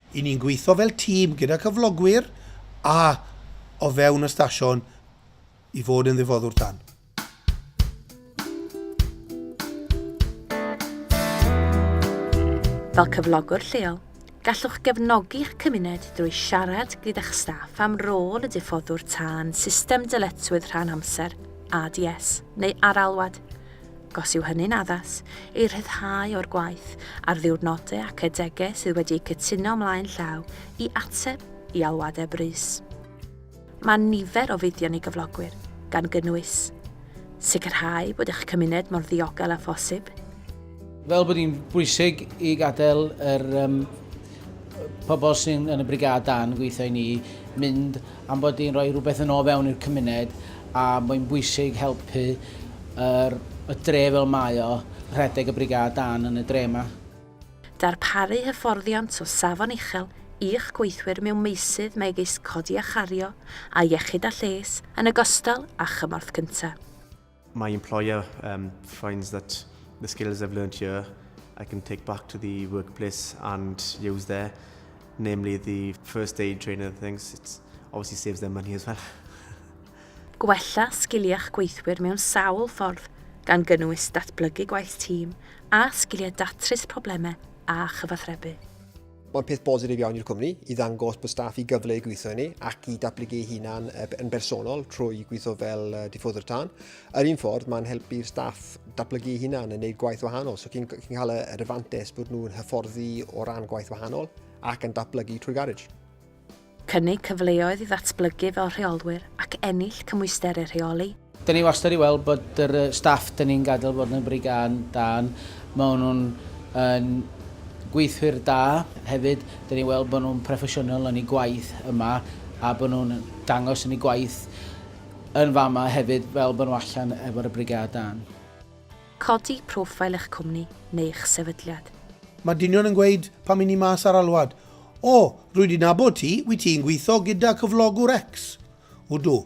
Y'n ni'n gweithio fel tîm gyda cyflogwyr a o fewn y stasiwn i fod yn ddifoddwr tân. Fel cyflogwr lleol, gallwch gefnogi'ch cymuned drwy siarad gyda'ch staff am rôl y diffoddwr tân, system dyletswydd rhan amser, ADS, neu ar-alwad. gos yw hynny'n addas, ei rhyddhau o'r gwaith a'r ddiwrnodau ac adegau sydd wedi eu cytuno ymlaen llaw i ateb i alwadau brys. Mae nifer o fuddion i gyflogwyr, gan gynnwys, Sicrhau bod eich cymuned mor ddiogel â phosib, Fel bod hi'n bwysig i gadael yr um, pobl sy'n yn y brigâd dan gweithio i ni mynd am bod hi'n rhoi rhywbeth yn o fewn i'r cymuned a mae'n bwysig helpu yr, y dre fel mae o, rhedeg y brigâd dân yn y dre 'ma. Darparu hyfforddiant o safon uchel i'ch gweithwyr mewn meysydd megis codi a chario a iechyd a lles, yn ogystal â chymorth cyntaf. My employer um, finds that the skills I've learned here I can take back to the workplace and use there, namely the first aid trainer things. It obviously saves them money as well. Gwella sgiliau'ch gweithwyr mewn sawl ffordd, gan gynnwys datblygu gwaith tîm a sgiliau datrys problemau a chyfathrebu. Mae'n peth bositif iawn i'r cwmni i ddangos bod staff i gyfle i gweithio i ni ac i datblygu ei hunan yn bersonol trwy gweithio fel diffoddwr tân. Yr un ffordd, mae'n helpu'r staff datblygu ei hunan yn gwneud gwaith wahanol, so chi'n cael yr advantes bod nhw'n hyfforddi o ran gwaith wahanol ac yn datblygu trwy garej. Cynnig cyfleoedd i ddatblygu fel rheolwyr ac ennill cymwysterau rheoli. Dyn ni wastad i weld bod yr staff dyn ni'n gadael fod yn bri gân dân. Maen nhw'n yn gweithwyr da hefyd. Dyn ni weld bod nhw'n proffesiynol yn eu gwaith yma a bod nhw'n dangos yn eu gwaith yn fama hefyd fel bod nhw allan efo'r y brigâd dân. Codi profile eich cwmni neu eich sefydliad. Mae dynion yn gweud, pam i ni mas ar alwad? O, rwy di nabod ti, wyt ti'n gweithio gyda cyflogwr X? Ydw.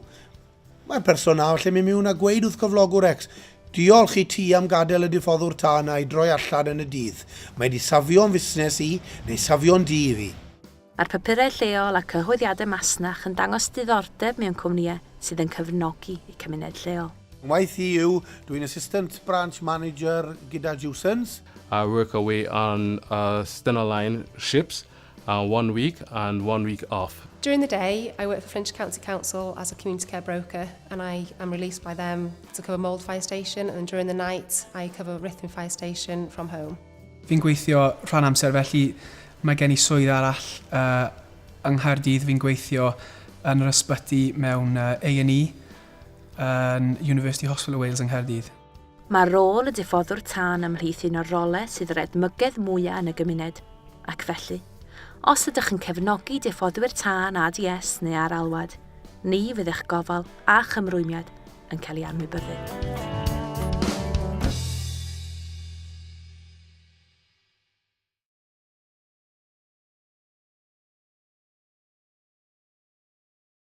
Mae'r person nawr lle mi mewn a gweud wrth cyflogwr X, Diolch i ti am gadael y diffoddwr tân a'i droi allan yn y dydd. Mae di safio'n fusnes i, neu safio'n dŷ i fi. Mae'r papurau lleol a cyhoeddiadau masnach yn dangos diddordeb mewn cwmnïau sydd yn cefnogi eu cymuned lleol. Ngwaith i yw, dw i'n Assistant Branch Manager gyda Jewsons. I work away on Stena Line ships, one week and one week off. During the day, I work for Flintshire County Council as a Community Care Broker and I am released by them to cover Mold Fire Station and then during the night I cover Rhithwyn Fire Station from home. Fi'n gweithio rhan amser felly mae gen i swydd arall yng Nghaerdydd, fi'n gweithio yn yr ysbyty mewn A&E yn University Hospital Wales yng Nghaerdydd. Mae rôl y diffoddwr tân ymhlith un o'r rolau sydd yr edmygedd mwyaf yn y gymuned, ac felly, os ydych yn cefnogi diffoddwyr tân ADS neu ar alwad, ni fydd eich gofal a chymrwymiad yn cael ei anwybyddu.